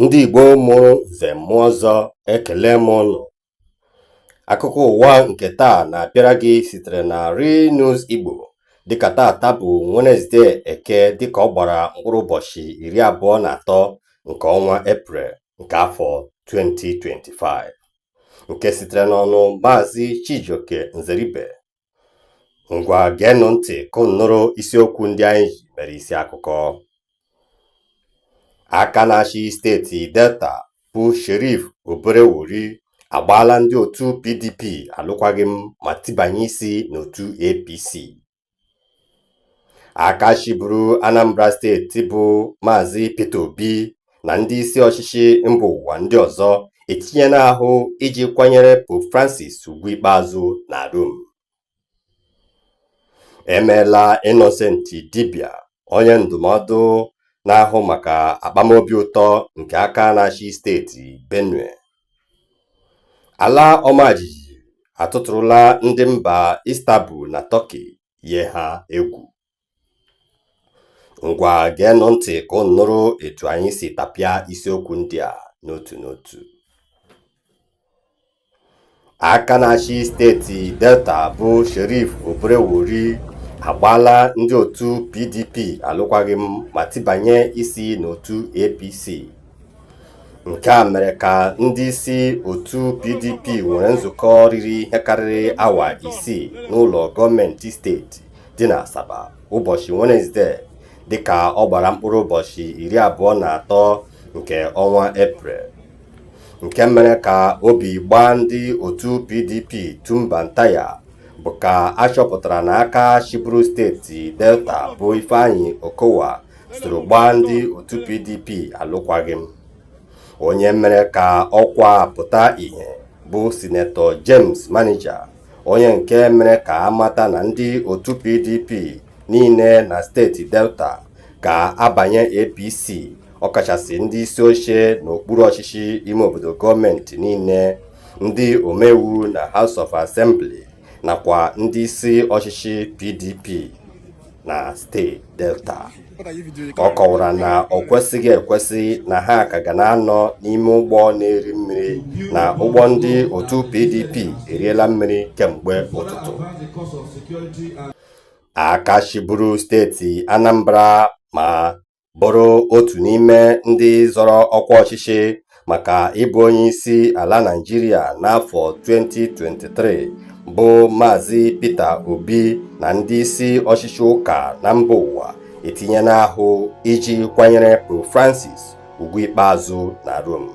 ndị Igbo mụrụ nze mụọ ọzọ ekele m ụnụ akụkọ ụwa nke taa na-abịara gị sitere na Real News Igbo dịka taata bụ Wenesde Eke dịka ọ gbara mkpụrụ ụbọchị iri abụọ na atọ nke ọnwa Eprel nke afọ 2025 nke sitere n'ọnụ Maazị Chijioke Nzeribe ngwa geenụ ntị ka unu nụrụ isiokwu ndị anyị ji mere isi akụkọ aka na-achị steeti delta bụ sheriff oborevwori agbaala ndị otu pdp alụkwaghịm ma tibanye isi n'otu apc aka chịburu Anambra steeti bụ Maazị Peter Obi na ndị isi ọchịchị mba ụwa ndị ọzọ etinyena ahụ iji kwanyere Pope Francis ugwu ikpeazụ na Rom emeela Innocent Idibia onye ndụmọdụ na-ahụ maka akpamobi ụtọ nke aka na-achị steeti Benue ala ọmajiji atụtụrụla ndị mba Istanbul na Turkey yie ha egwu ngwa geenụ ntị ka unu nụrụ etu anyị si tapịa isiokwu ndị a n'otu n'otu aka na-achị steeti delta bụ sheriff oborevwori agbaala ndị otu pdp alụkwaghịm ma tibanye isi n'otu apc nke a mere ka ndị isi otu pdp nwere nzukọ riri ihe karịrị awa isii n'ụlọ gọọmenti steeti dị na asaba ụbọchị wenesde dịka ọ gbara mkpụrụ ụbọchị iri abụọ na atọ nke ọnwa eprel nke mere ka obi gbaa ndị otu pdp tumba ntaya bụ ka a chọpụtara na aka chịburu steeti delta bụ ifeanyi okowa soro gbaa ndị otu PDP alụkwaghị m onye mere ka ọkwa a pụta ìhè bụ sinetọ James Manager onye nke mere ka a mata na ndị otu PDP niile na steeti Delta ga-abanye APC ọkachasị ndị isi oche n'okpuru ọchịchị ime obodo gọọmenti niile ndị omeiwu na House of Assembly nakwa ndị isi ọchịchị PDP na steeti delta ọ kọwara na o kwesịghị ekwesị na ha ka ga na-anọ n'ime ụgbọ na-eri mmiri na ụgbọ ndị otu pdp eriela mmiri kemgbe ụtụtụ aka chịburu steeti anambra ma bụrụ otu n'ime ndị zọrọ ọkwa ọchịchị maka ịbụ onye isi ala Naịjirịa n'afọ 2023 bụ Maazị Peter Obi na ndị isi ọchịchị ụka na mba ụwa etinyela ahụ iji kwanyere Pope Francis ugwu ikpeazụ na Rome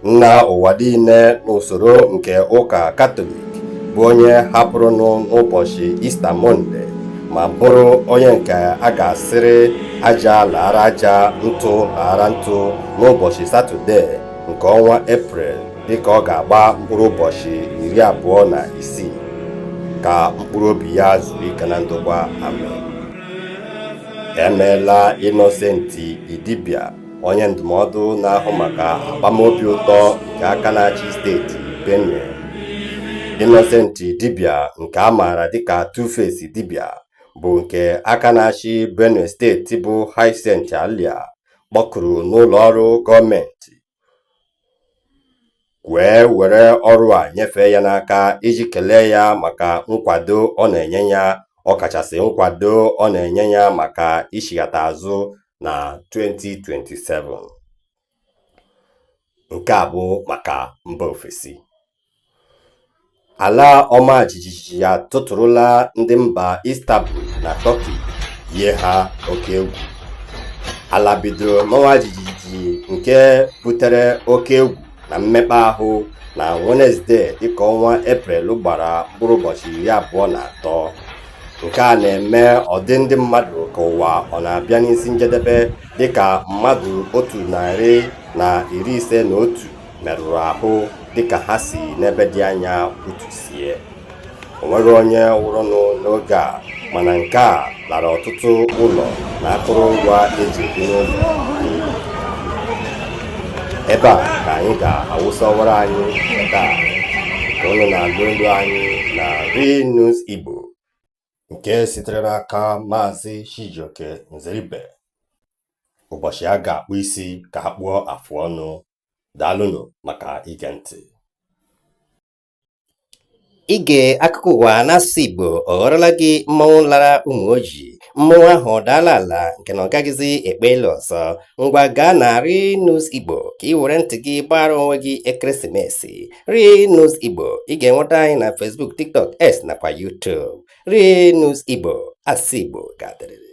nna ụwa niile n'usoro nke ụka katọlik bụ onye hapụrụnụ n'ụbọchị ista mọnde ma bụrụ onye nke a ga-asịrị aja laara aja ntụ laara ntụ n'ụbọchị satọde nke ọnwa eprel dịka ọ ga-agba mkpụrụ ụbọchị iri abụọ na isii ka mkpụrụ obi ya zuru ike na ndokwa amen emeela innocent idibia onye ndụmọdụ na-ahụ maka akpamobi ụtọ nke aka na-achị steeti Benue Innocent Idibia nke a maara dịka Tuface Idibia bụ nke aka na-achị Benue steeti bụ Hyacinth Alia kpọkuru n'ụlọ ọrụ gọọmenti wee were ọrụ a nyefee ya n'aka iji kelee ya maka nkwado ọ na-enye ya ọkachasị nkwado ọ na-enye ya maka ichighata azụ na 2027 nke a bụ maka mba ofesi Ala ọma jijiji atụtụrụla ndị mba Istanbul na Turkey yie ha oke egwu. Ala bidoro mawa jijiji nke butere oke egwu na mmekpa ahụ na Wenezdee dịka ọnwa Eprel gbara mkpụrụ ụbọchị iri abụọ na atọ. Nke a na-eme ọ dị ndị mmadụ ka ụwa ọ na-abịa n'isi njedebe dịka mmadụ otu narị na iri ise na otu merụrụ ahụ dịka ha si n'ebe dị anya wụtusie o nweghị onye nwụrụnụ n'oge a mana nke a lara ọtụtụ ụlọ na akụrụngwa e ji ebi n'ụlọ n'iyi ebe a ka anyị ga-awụsa ọwara anyị taa ka ụnụ na-agụ elu anyị na Real News Igbo nke sitere n'aka Maazị Chijioke Nzeribe ụbọchị a ga-akpụ isi ka a kpụọ afụ ọnụ daalụnụ maka ige ntị ige akụkọ ụwa n'asụsụ Igbo ọ ghọrọla gị mmanwụ lara ụmụ ojii mmanwụ ahụ adaala ala nke na ọ gaghịzi ekpe elu ọzọ ngwa gaa na Ri News Igbo ka i were ntị gị gbaara onwe gị ekeresimesi Ri News Igbo ị ga-enweta anyị na Facebook TikTok X nakwa YouTube Ri News Igbo asụsụ Igbo ga-adịrịrị